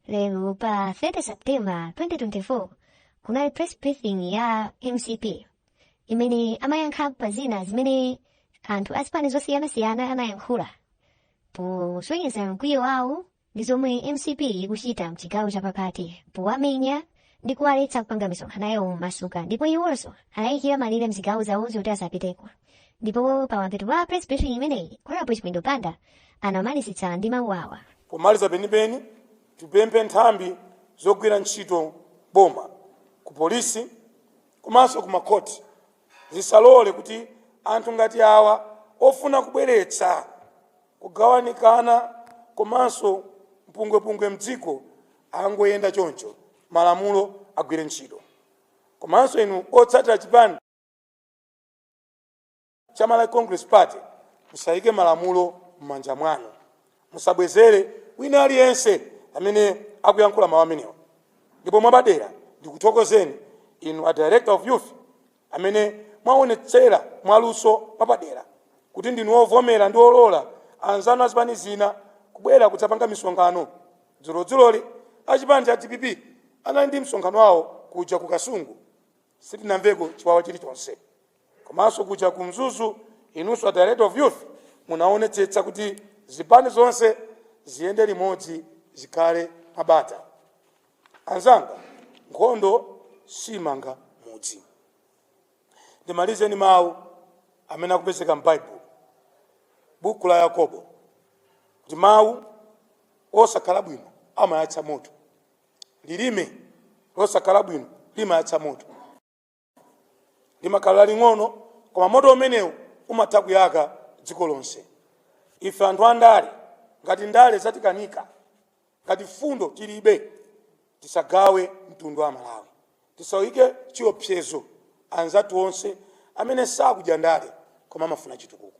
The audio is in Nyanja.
lero pa 30 septemba 2024 kunali press briefing ya mcp imene amayankhapo pa zina zimene anthu a zipani zosiyanasiyana anayankhula posonyeza mkwiyo wawo ndi zomwe mcp ikuchita mchigawo chapakati powamenya ndi kuwaletsa kupanga misonkhano yawo momasuka ndipo iwonso anayikira malire mzigawo zawozo kuti asapiteko ndipo pa mapeto pa press briefing imeneyi honorable chithyola banda anamalizitsa ndi mawu awa pomaliza penipeni tipemphe nthambi zogwira ntchito boma ku polisi komanso ku makhoti zisalole kuti anthu ngati awa ofuna kubweretsa Kugawanikana komanso mpungwepungwe mdziko angoyenda choncho malamulo agwire ntchito komanso inu otsatira chipani cha Malawi Congress Party musayike malamulo mmanja mwanu musabwezere wina aliyense amene akuyankhula mawu amenewa ndipo mwapadera ndikuthokozeni inu a Director of Youth amene mwaonetsera mwaluso mwapadera kuti ndinu ovomera ndi olola anzanu azipani zina kubwera kudzapanga misonkhano. Dzulodzuloli achipani cha dpp anali ndi msonkhano wawo kuja ku Kasungu sitinamveko chiwawa chilichonse. Komanso kuja ku Mzuzu inunso a Director of Youth munaonetsetsa kuti zipani zonse ziyende limodzi zikhale mwabata. Anzanga, nkhondo siimanga mudzi. Ndimalize ndi mawu amene akupezeka m'Baibulo, buku la Yakobo, kuti mawu osakhala bwino amayatsa moto. Lilime losakhala bwino limayatsa moto. limakhala laling'ono koma moto umenewu umatha kuyaka dziko lonse ife anthu andale ngati ndale zatikanika ngati fundo tilibe tisagawe mtundu wa malawi tisawaike chiopsezo anzathu onse amene sakudya ndale koma amafuna chitukuko